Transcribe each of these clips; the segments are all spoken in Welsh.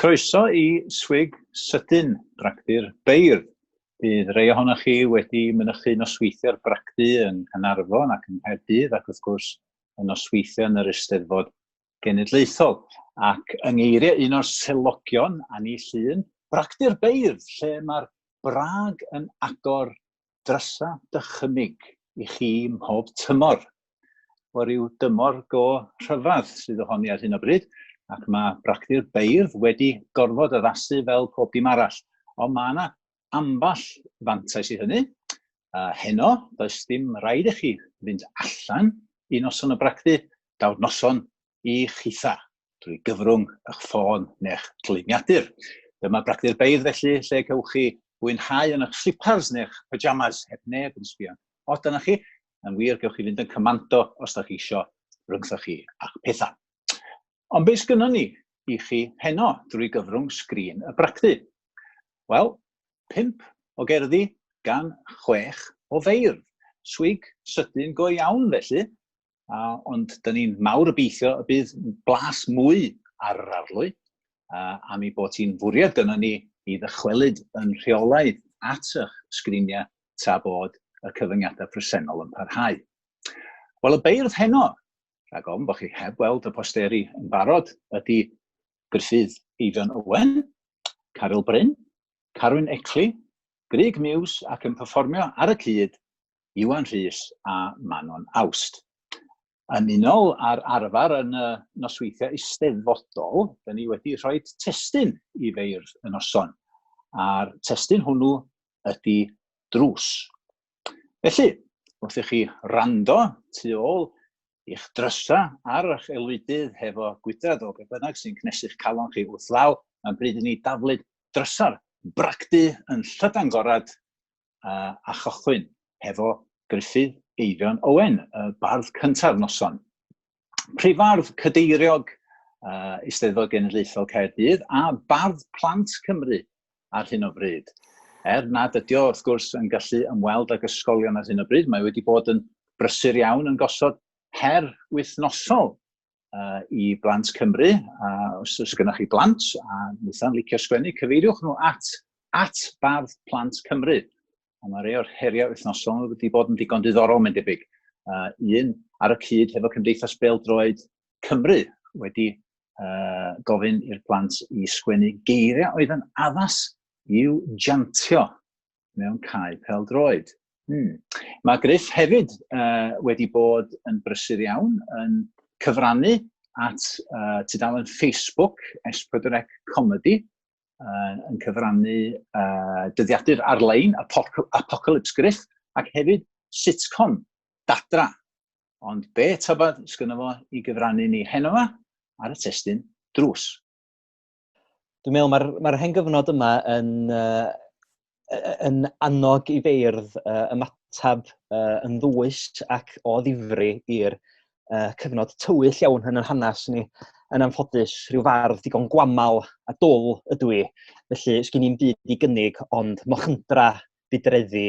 Croeso i Swig Sydyn, Bragdy'r Beirdd. Bydd rei ohonoch chi wedi mynychu nosweithiau'r bragdy yng Nghanarfon ac yng Nghaerdydd ac wrth gwrs y nosweithiau yn yr Eisteddfod genedlaethol. Ac yng ngeiriau un o'r selogion, Annie Llun, bragdy'r beirdd lle mae'r brag yn agor drysa dychymyg i chi mhob tymor. O ryw dymor go rhyfedd sydd ohoni ar hyn o bryd, ac mae bragdy'r beirdd wedi gorfod addasu fel pob dim arall. Ond mae yna ambell fantais i hynny. Uh, heno, does dim rhaid i chi fynd allan i noson o bragdy, daw'r noson i chitha drwy gyfrwng eich ffôn neu'ch dyluniadur. Dyma bragdy'r beidd felly lle cewch chi fwynhau yn eich slipars neu'ch pyjamas heb neb yn sbio o dyna chi. Yn wir, gewch chi fynd yn cymando os da chi isio rhyngthoch chi a'ch pethau. Ond be sgynnon ni i chi heno drwy gyfrwng sgrin y bragdy? Wel, pump o gerddi gan chwech o feirdd. Swig sydyn go iawn felly, a, ond dyn ni'n mawr obeithio y bydd blas mwy ar yr arlwy, a, am ei bod hi'n fwriad gynnon ni i ddychwelyd yn rheolaidd at eich sgriniau tra bod y cyfyngiadau presennol yn parhau. Wel, y beirdd heno rhag ofn bod chi heb weld y posteri yn barod, ydy Gruffydd Eifion Owen, Caryl Bryn, Carwyn Ecli, Grug Muse ac yn perfformio ar y cyd Iwan Rhys a Manon Awst. Yn unol â'r arfer yn y nosweithiau eisteddfodol, da ni wedi rhoi testyn i feirdd y noson, a'r testyn hwnnw ydy drws. Felly, wrth i chi rando tu ôl i'ch drysa ar eich elwydydd hefo gwydred o beth bynnag sy'n cnesu'ch calon chi wrth law, mae'n bryd i ni daflud drysa'r bragdy yn llydan gorad a, a chychwyn hefo Gruffydd Eifion Owen, y bardd cynta'r noson. Prifardd Cadeiriog uh, Eisteddfod Genedlaethol Caerdydd a Bardd Plant Cymru ar hyn o bryd. Er nad ydy o, wrth gwrs, yn gallu ymweld ag ysgolion ar hyn o bryd, mae wedi bod yn brysur iawn yn gosod her wythnosol uh, i blant Cymru. A os oes gennych chi blant a wnaethon licio sgwennu, cyfeiriwch nhw at, at Bardd Plant Cymru. A mae rhai o'r heriau wythnosol wedi bod yn digon diddorol, mae'n debyg. Uh, un, ar y cyd hefo Cymdeithas Beldroed Cymru wedi uh, gofyn i'r plant i sgwennu geiriau oedd yn addas i'w jantio mewn cae peldroed. Hmm. Mae Griff hefyd uh, wedi bod yn brysur iawn yn cyfrannu at uh, tudalen Facebook S4C Comedy uh, yn cyfrannu uh, dyddiadur ar-lein, Apocalypse Griff, ac hefyd sitcom, Dadra. Ond be tybed sgynno fo i gyfrannu ni heno fa ar y testyn drws? Dwi'n meddwl mae'r mae hen gyfnod yma yn uh, yn annog i feirdd uh, ymatab uh, yn ddwys ac o ddifri i'r uh, cyfnod tywyll iawn yn yr hanes ni. Yn anffodus, rhyw fardd digon gwamal a dwl ydw i, felly sgyn i'n byd i gynnig ond mochyndra, budreddi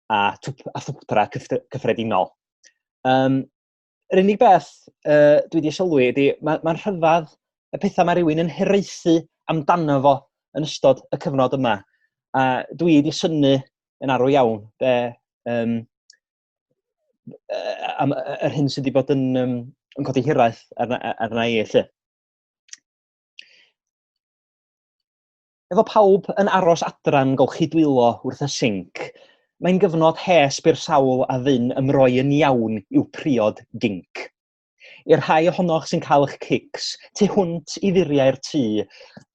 a, a thwpra cyffredinol. Um, yr unig beth uh, dwi wedi sylwi ydy, mae'n ma, rhyfedd y pethau mae rhywun yn hiraethu amdano fo yn ystod y cyfnod yma. A dwi wedi syni yn arw iawn be, um, am, yr hyn sydd wedi bod yn, um, yn codi hiraeth arna, arna i, lle. Efo pawb yn aros adran golchi dwylo wrth y sinc, mae'n gyfnod hes byr sawl a fyn ymroi yn iawn i'w priod ginc. I'r rhai ohonoch sy'n cael eich cics, tu hwnt i furiau'r tŷ,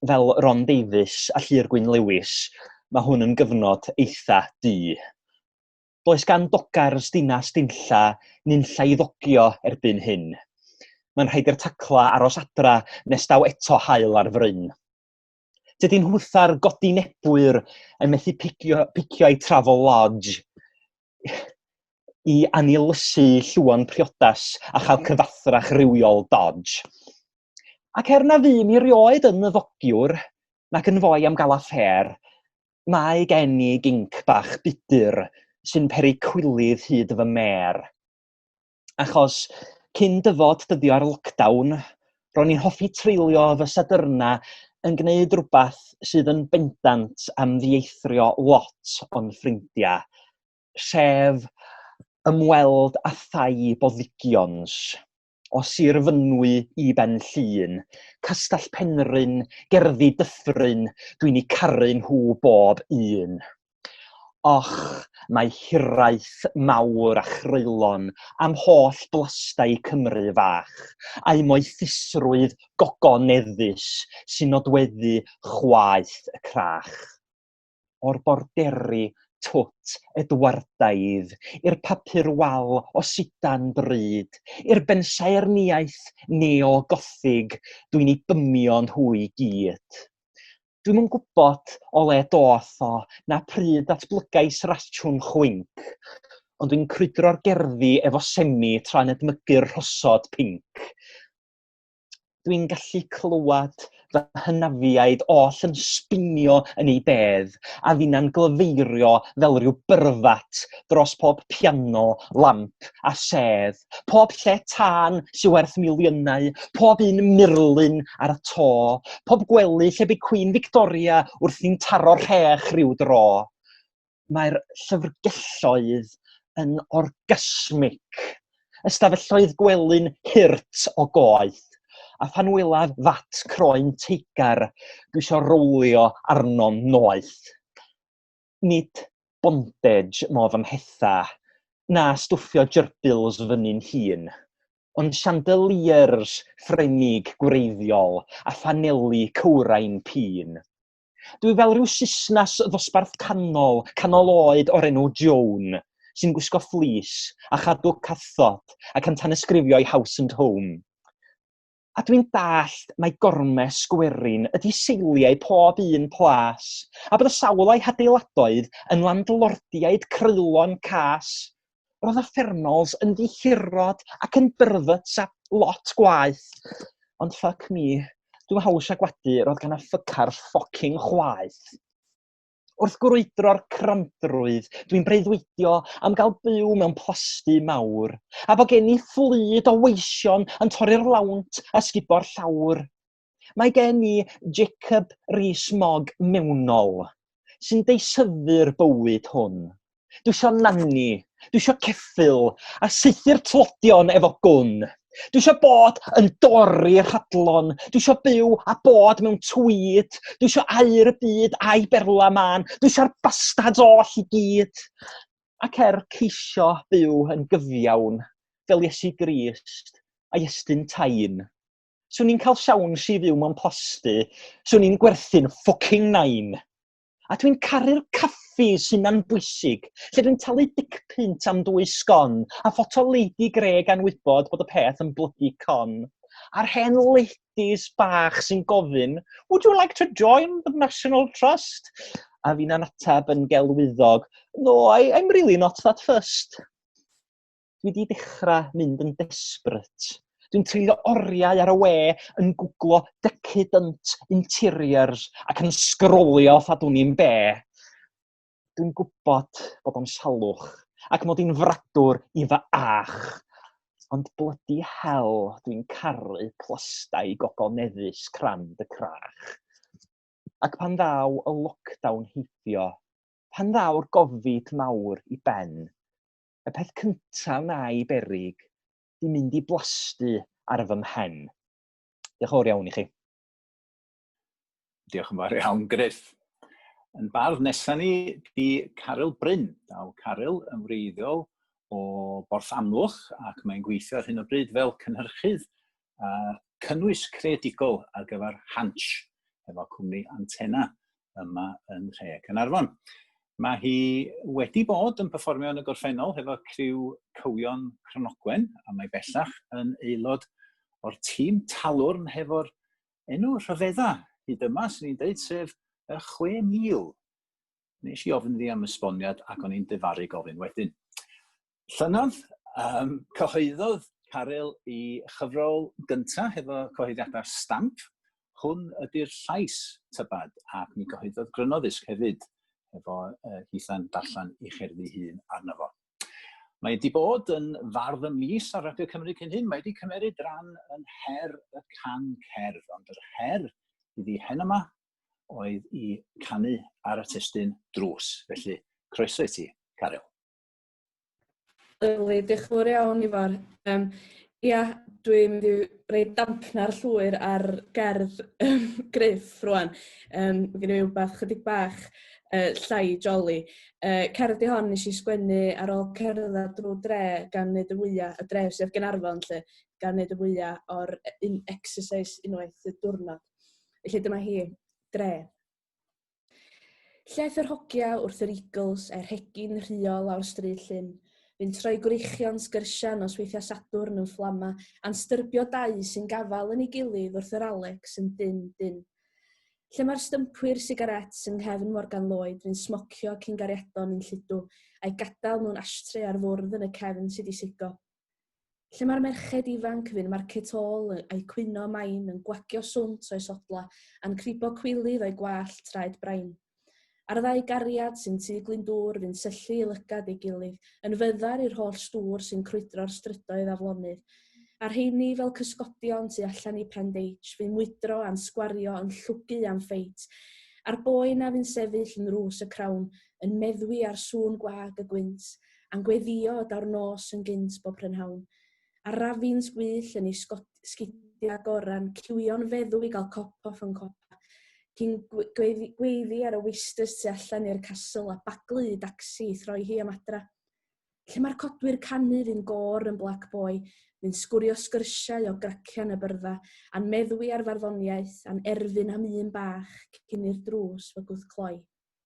fel Ron Davies a Llyr Gwyn Lewis, mae hwn yn gyfnod eitha du. Does gan dogars dinas dinlla nunlla i ddogio erbyn hyn. Mae'n rhaid i'r tacla aros adra nes daw eto haul ar fryn. Dydy nhwtha'r godi nebwyr yn methu picio, picio ei travel lodge i anilysu llwon priodas a chael cyfathrach rhywiol dodge. Ac er na fu mi rioed yn ddogiwr, nac yn fwy am gael affair, mae gen i ginc bach budur sy'n peri cwilydd hyd fy mêr. achos cyn dyfod dyddiau'r lockdown, ro'n i'n hoffi treulio fy sadyrna yn gwneud rhywbeth sydd yn bendant am ddieithrio lot o'n ffrindiau, sef ymweld a thai boddigions, o Sir Fynwy i Ben Llŷn, Castell Penrhyn, Gerddi Dyffryn, dwi'n eu caru nhw bob un. Och, mae hiraeth mawr a chreulon am holl blastai Cymru fach, a'u moethusrwydd gogoneddus sy'n nodweddu chwaeth y crach. O'r borderi twt Edwardaidd, i'r papur wal o sidan bryd, i'r bensaernïaeth neo-gothig, dwi'n eu bymio nhw i gyd. Dwi'm yn gwybod o le doth o, na pryd ddatblygais rasiwn chwinc, ond dwi'n crwydro'r gerddi efo semi tra'n edmygu'r rhosod pinc. Dwi'n gallu clywed fy hynafiaid oll yn sbinio yn ei bedd, a finna'n glyfeirio fel rhyw byrfat dros pob piano, lamp a sedd. Pob lle tân sy'n werth miliynau, pob un murlun ar y to, pob gwely lle bydd Cwîn Victoria wrthi'n taro rhech rhyw dro. Mae'r llyfrgelloedd yn orgasmic. Ystafelloedd gwely'n hirt o goeth. A phan welaf fat croen teigar, dwi eisiau rowlio arno'n noeth. Nid bondage modd ymhetha, na stwffio gerbils fyny'n hun, ond chandeliers Ffrengig gwreiddiol a phaneli cywrain pîn. Dwi fel rhyw Susnas ddosbarth canol, canol oed o'r enw Joan, sy'n gwisgo fleece a chadw cathod ac yn tanysgrifio i House and Home. A dwi'n dallt mai gormes gwerin ydy seiliau pob un plas, a bod y sawl a'i hadeiladoedd yn landlordiaid creulon cas. Roedd y Fernals yn ddihirod ac yn byrfyts a lot gwaeth. Ond fuck me, dwi'm haws a gwadu, roedd gan y ffuckars ffocin chwaeth. Wrth grwydro'r cramdrwydd, dwi'n breuddwydio am gael byw mewn plasty mawr, a bod gen i fflyd o weision yn torri'r lawnt a sgubo'r llawr. Mae gen i Jacob Rees-Mogg mewnol, sy'n deisyfu'r bywyd hwn. Dwi isio nanni. Dwi isio ceffyl. A sythu'r tlodion efo gwn. Dwi isio bod yn dorri rhadlon. Dwi isio byw a bod mewn twyd. Dwi isio air y byd a'i berla man. Dwi isio'r bastards oll i gyd. Ac er ceisio byw yn gyfiawn fel Iesu Grist a'i estyn tain. Swn i'n cael siawns i fyw mewn plasty. Swn i'n gwerthu'n ffocin nain. A dwi'n caru'r caffi sy'n na'n bwysig, lle dwi'n talu dic pint am dwy sgon a ffoto leidi gre gan wybod bod y peth yn blygu con. A'r hen leidis bach sy'n gofyn, would you like to join the National Trust? A fi'n anatab yn gelwyddog, no, I, I'm really not that first. dwi wedi dechrau mynd yn desperate. Dwi'n treulio oriau ar y we yn gwglo decadent interiors ac yn sgrolio ffadwn i'n be. Dwi'n gwybod bod o'n salwch ac mod i'n fradwr i fy ach. Ond bloody hell, dwi'n caru plastau gogol neddus crand y crach. Ac pan ddaw y lockdown heibio, pan ddaw'r gofid mawr i ben, y peth cyntaf wna'i berig di mynd i blastu ar fy mhen. Diolch fawr iawn i chi. Diolch yn fawr iawn, Griff. Yn bardd nesaf ni di Caryl Bryn. Daw Caryl yn wreiddiol o Borth Amlwch ac mae'n gweithio ar hyn o bryd fel cynhyrchydd a cynnwys creadigol ar gyfer Hansh, efo cwmni Antenna yma yn Rhe Cynarfon. Mae hi wedi bod yn performio yn y gorffennol hefo criw Cywion Cronogwen, a mae bellach yn aelod o'r tîm talwrn hefo'r enw rhyfedda hyd yma, sy'n ni'n dweud, sef y 6,000. Nes i ofyn ddi am esboniad ac o'n i'n defaru gofyn wedyn. Llynedd, um, cyhoeddodd Caryl i chyfrol gyntaf hefo cyhoeddiadau'r stamp. Hwn ydy'r llais tybad, ac mi gyhoeddodd Grynoddysg hefyd, hefo uh, hitha'n darllen ei cherddi hun arno fo. Mae wedi bod yn fardd y mis ar Radio Cymru cyn hyn. Mae wedi cymeriad ran yn her y can cerdd, ond yr her iddi hen yma oedd i canu ar y testyn drws. Felly, croeso i ti, Caryl. Lyfli, diolch yn fawr iawn Ifor. Yym ia dwi'n mynd i roi damcna'r llwyr ar gerdd yym Gruff rŵan yym ma' gynno fi wbath chydig bach yy llai joli. Yy cerdd 'di hon nesh i sgwennu ar ôl cerddad drw'r dre gan neud y fwya y dre sy ar Gaernarfon 'lly gan neud y fwya o'r yy un exercise unwaith y diwrnod. Felly dyma hi. Dre. Lleth yr hogia wrth yr Eagles er hegi'n rhuo lawr stryd llyn. Fi'n troi gwreichion sgyrsiau nos weithiau Sadwrn yn fflama a'n styrbio dau sy'n gafael yn ei gilydd wrth yr Alex yn dyn, dyn. Lle mae'r stympwyr sigarets yng nghefn Morgan Lloyd fi'n smocio cyn gariadon yn lludw a'i gadael mewn ashtrey ar fwrdd yn y cefn sydd i sigo. Lle mae'r merched ifanc fy'n marcet ôl a'i cwyno main yn gwagio swnt o'i sodla a'n cribo cwilydd o'i gwallt traed brain. A'r ddau gariad sy'n tu Glyndŵr fy'n syllu i lygad ei gilydd yn fyddar i'r holl stŵr sy'n crwydro'r strydoedd aflonydd. A'r rheini fel cysgodion tu allan i Prendeitch fy'n mwydro a'n sgwario yn llwgu am ffeit. A'r boi 'na fy'n sefyll yn rws y crawn yn meddwi ar sŵn gwag y gwynt a'n gweddio o daw'r nos yn gynt bob prynhawn, a'r rafins gwyll yn ei sgidio â goran, ciwio'n feddw i gael cop off yn copa, cyn gweiddi ar y weisters tu allan i'r Castle a baglu i dacsi i throi hi am adra. Lle mae'r codwyr canu fu'n gôr yn Black Boy, fu'n sgwrio sgyrsiau o gracian y byrdda, a'n meddwi ar farddoniaeth, a'n erfyn am un bach cyn i'r drws fy gwthcloi.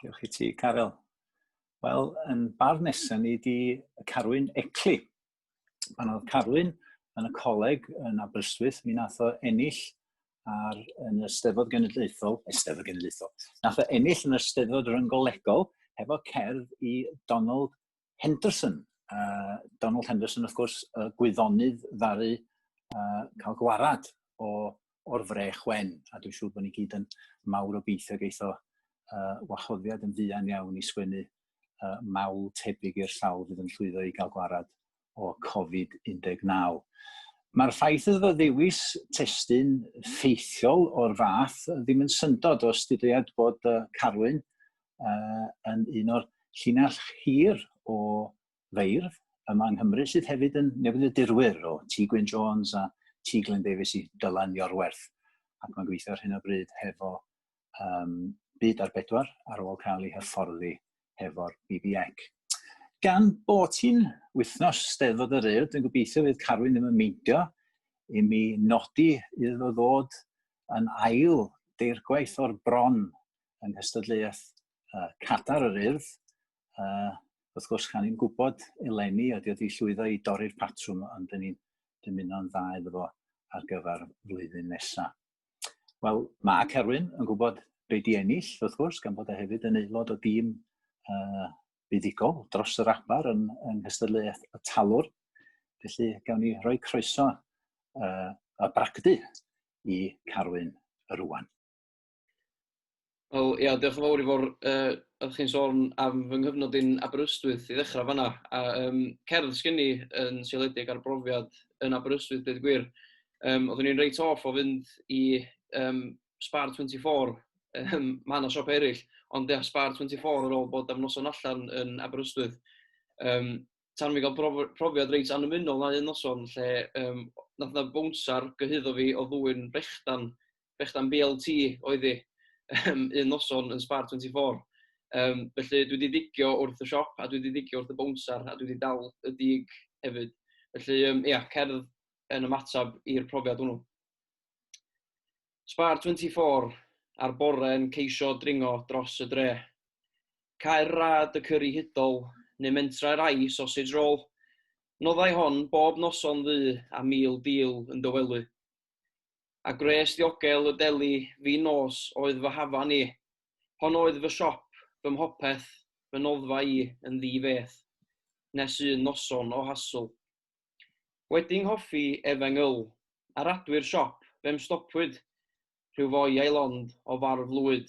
Diolch i ti, Caryl. Wel, yn bar nesaf ni di Carwyn Ecli. Pan oedd Carwyn yn y coleg yn Aberystwyth, mi nath o ennill ar, yn y Steddfod Genedlaethol, Eisteddfod Genedlaethol, nath o ennill yn y Steddfod Ryngolegol hefo cerdd i Donald Henderson. Uh, Donald Henderson, wrth gwrs, uh, gwyddonydd ddaru uh, cael gwarad o, o'r frech wen, a dwi'n siŵr bod ni gyd yn mawr o beithio geitho uh, wahoddiad yn fuan iawn i sgwennu uh, mawl tebyg i'r sawl fydd yn llwyddo i gael gwarad o Covid-19. Mae'r ffaith iddo fo ddewis testun ffeithiol o'r fath ddim yn syndod o stydiad bod uh, Carwyn uh, yn un o'r llinell hir o feirdd yma yng Nghymru, sydd hefyd yn newid y dirwyr o T. Gwyn Jones a T. Glenn Davies i Dylan Iorwerth. Ac mae'n gweithio ar hyn o bryd hefo um, byd ar bedwar ar ôl cael ei hyfforddi hefo'r BBEC. Gan bod hi'n wythnos steddfod yr yrd, dwi'n gobeithio fydd Carwyn ddim yn meindio i mi nodi iddo ddod yn ail deirgwaith o'r bron yng nghystadleuaeth uh, cadar yr urdd. Uh, wrth gwrs, gan ni'n gwybod eleni ydy wedi llwyddo i dorri'r patrwm, ond dyn ni'n dymuno'n dda iddo fo ar gyfer flwyddyn nesaf. Wel, mae Cerwyn yn gwybod be di ennill, wrth gwrs, gan bod e hefyd yn aelod o dîm uh, buddigol dros yr abar yn, yn nghystadleuaeth y talwr. Felly, gawn ni roi croeso uh, a bragdy i Carwyn rwan. Wel ia, diolch yn fawr i fawr yy oeddech chi'n sôn am fy nghyfnod i'n Aberystwyth i ddechrau fanna. A um, cerdd sgyn i yn seiliedig ar brofiad yn Aberystwyth, dweud gwir. Um, oeddwn i'n reit off o fynd i um, Spar 24, um, mae yna siop eraill, ond ia, Spar 24 ar ôl bod am noson allan yn Aberystwyth. Um, tan fi gael prof profiad reit annymunol na un noson lle um, nath na bwnsar gyhyddo fi o ddwy'n brechdan brechdan BLT oedd hi, yym, un noson yn Spar 24. Yym, felly dwi 'di digio wrth y siop a dwi 'di digio wrth y bownsar a dwi 'di dal y dug hefyd. Felly yym ia, cerdd yn ymateb i'r profiad hwnnw. Spar 24 a'r bore yn ceisio dringo dros y dre. Caer rad y cyrri hudol, neu mentrau'r ai sausage roll. Noddai hon bob noson ddu a mil deal yn dy wely. a gwres ddiogel y deli fin nos oedd fy hafan i. Hon oedd fy siop, fy mhopeth, fy noddfa i yn ddi feth, nes un noson o hasl. Wedi 'nghoffi efeng yl, ar adwy'r siop, fe'm stopwyd, rhyw foi a'i lond o farw flwyd.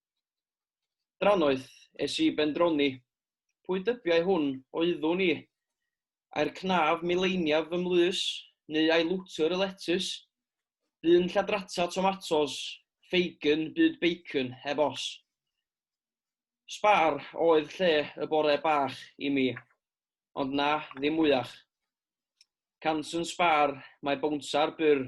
Drannoeth, es i ben droni. Pwy dybiai hwn oeddwn i? Ai'r cnaf mileiniaf fy mlys, neu ai lwtr y letys? Bu'n lladrata tomatos, ffeigen, byd beicyn, heb os. Sbar oedd lle y bore bach i mi, ond na, ddim mwyach. Cant yn sbar, mae bowntar byr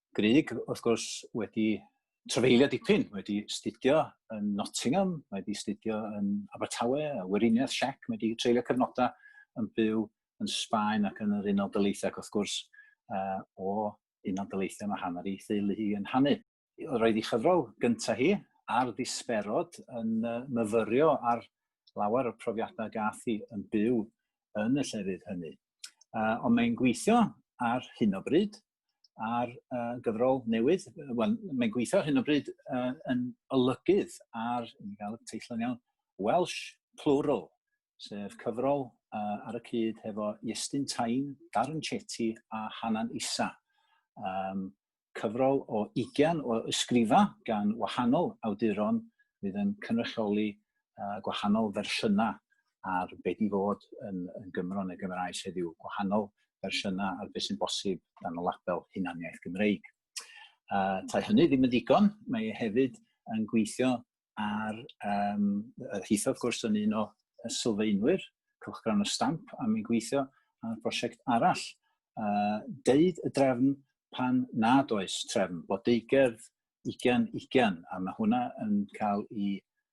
Grig, wrth gwrs, wedi trafeilio dipyn, wedi studio yn Nottingham, mae wedi studio yn Abertawe, a Weriniaeth Siec, mae wedi treulio cyfnodau yn byw yn Sbaen ac yn yr Unol Daleithiau, ac wrth gwrs, uh, o Unol Daleithiau mae hanner ei theulu hi yn hanu. Roedd ei chyfrol gyntaf hi, ar ddisperod yn myfyrio ar lawer o'r profiadau gath hi yn byw yn y llefydd hynny. Uh, ond mae'n gweithio ar hyn o bryd ar uh, gyfrol newydd. Wel, mae'n gweithio hyn o bryd uh, yn olygydd ar, yn cael y teitl yn iawn, Welsh Plural, sef cyfrol uh, ar y cyd hefo Iestyn Tain, Darren Chetty a Hanan Isa. Um, cyfrol o 20 o ysgrifa gan wahanol awduron fydd yn cynrychioli uh, gwahanol fersiynau ar beth i fod yn, yn Gymro neu Gymraes heddiw, gwahanol fersiynau ar beth sy'n bosib dan y label hunaniaeth Gymreig. Uh, tai hynny ddim yn ddigon, mae e hefyd yn gweithio ar um, hitho, wrth gwrs, yn un o sylfaenwyr cylchgrawn y stamp a mi'n gweithio ar brosiect arall. Uh, deud y drefn pan nad oes trefn, bod deigerdd 20-20, a mae hwnna yn cael ei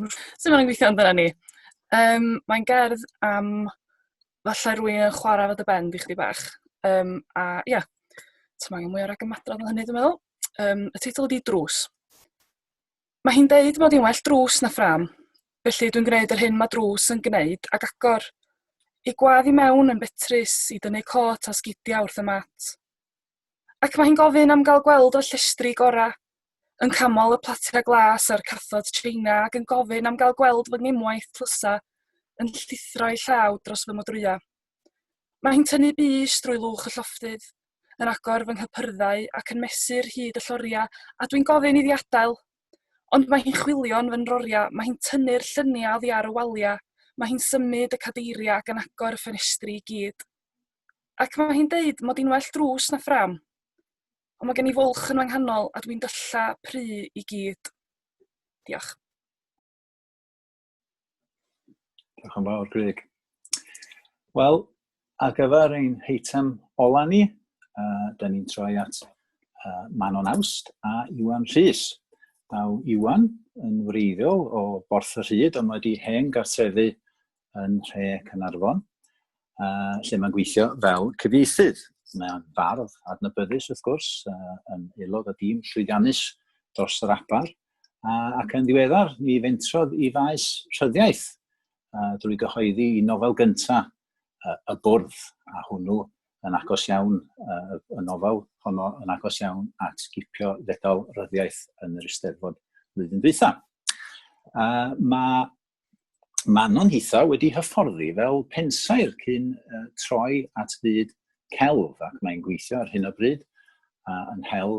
Sut maen nhw'n gweithio amdana ni? Yym, mae'n gerdd am falle rywun yn chwarae efo dy ben di chydig bach. Yym a ia, ti'm angen mwy o ragymadrodd na hynny dwi'n meddwl. Yym y teitl ydi Drws. Mae hi'n deud mod i'n well drws na ffrâm, felly dwi'n gwneud yr hyn mae drws yn gwneud ac agor ei gwadd i mewn yn betrus i dynnu cot a sgidiau wrth y mat. ac mae hi'n gofyn am gael gweld y llestri gorau. Yn camol y platiau glas a'r cathod China ac yn gofyn am gael gweld fy ngemwaith tlysa yn llithro'i llaw dros fy modrwya. Mae hi'n tynnu bys drwy lwch y llofftydd, yn agor fy nghypyrddau ac yn mesur hyd y lloriau a dwi'n gofyn iddi adael. Ond mae hi'n chwilio'n fy nroriau, mae hi'n tynnu'r lluniau oddi ar y waliau, mae hi'n symud y cadeiriau ac yn agor y ffenestri i gyd. Ac mae hi'n deud mod i'n well drws na ffrâm. Ond mae gen i fwlch yn fy nghanol a dwi'n dylla pry i gyd. Diolch. Diolch yn fawr, Greg. Wel, ar gyfer ein heitem ola ni, uh, da ni'n troi at uh, Manon Awst a Iwan Rhys. Daw Iwan yn wreiddiol o Borth y Rhyd, ond mae wedi hen gartrefu yn Nhre Cynarfon, uh, lle mae'n gweithio fel cyfieithydd. Mae'n fardd adnabyddus, wrth gwrs, uh, yn aelod o dîm llwyddiannus dros yr abar, uh, ac yn ddiweddar ni fentrodd i faes rhyddiaeth uh, drwy gyhoeddi i nofel gyntaf uh, y bwrdd, a hwnnw yn agos iawn, uh, y nofel honno yn agos iawn at gipio ddedal ryddiaeth yn yr Eisteddfod flwyddyn dwytha. Uh, mae Manon hithau wedi hyfforddi fel pensaer cyn uh, troi at fyd celf ac mae'n gweithio ar hyn o bryd uh, yn hel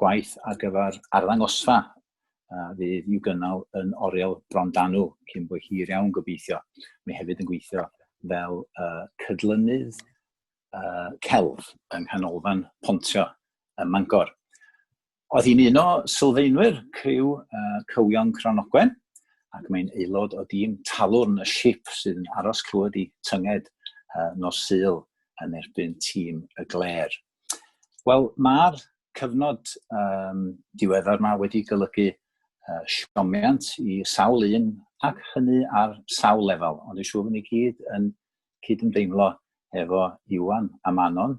gwaith ar gyfer arddangosfa uh, fydd i'w gynnal yn Oriel Brondanw cyn bod hir iawn gobeithio. Mae hefyd yn gweithio fel uh, cydlynydd uh, celf yng Nghanolfan Pontio ym Mangor. Oedd hi'n un o sylfaenwyr criw uh, Cywion Cranogwen ac mae'n aelod o dîm talwrn y ship sydd yn aros clywed i tynged uh, nos syl yn erbyn tîm y Gler. Wel, mae'r cyfnod um, diweddar yma wedi golygu uh, siomiant i sawl un ac hynny ar sawl lefel, ond dwi'n siŵr bod ni gyd yn cydymdeimlo efo Iwan a Manon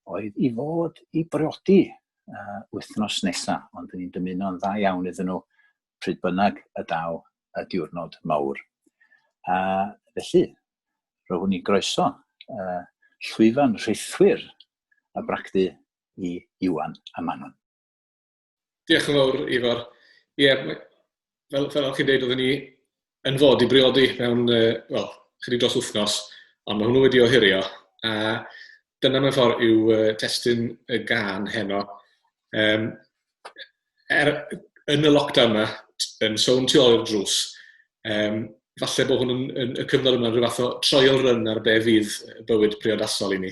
oedd i fod i briodi uh, wythnos nesa, ond ni'n dymuno'n dda iawn iddyn nhw pryd bynnag y daw y diwrnod mawr. A felly, roeddwn i'n groeso uh, llwyfan rhithwyr a bragdy i Iwan a Manon. Diolch yn fawr, Ifor. Ie, yeah, fel, fel o'ch chi'n dweud, oedden ni yn fod i briodi mewn, uh, wel, chydig dros wythnos, ond mae hwnnw wedi ohirio. A dyna mewn ffordd yw uh, testyn y gan heno. Um, er, yn y lockdown yma, yn sôn tu ôl i'r drws, um, falle bod hwn yn, yn, y cyfnod yma'n rhyw fath o troiol ryn ar be fydd bywyd priodasol i ni.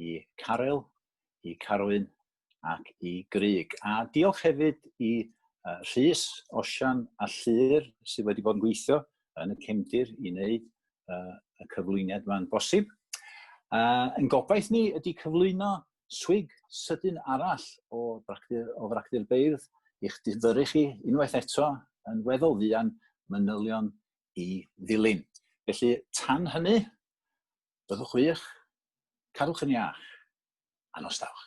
i Caryl, i Carwyn ac i Grug. A diolch hefyd i uh, Rhys, Osian a Llyr sydd wedi bod yn gweithio yn y cefndir i wneud uh, y cyflwyniad yma'n bosib. Uh, yn gobaith ni ydy cyflwyno swig sydyn arall o fracdir, o fracdir beirdd i'ch difyru chi unwaith eto yn weddol fuan manylion i ddilyn. Felly, tan hynny, Byddwch wych. Cadwch yn iach. A nos dawch.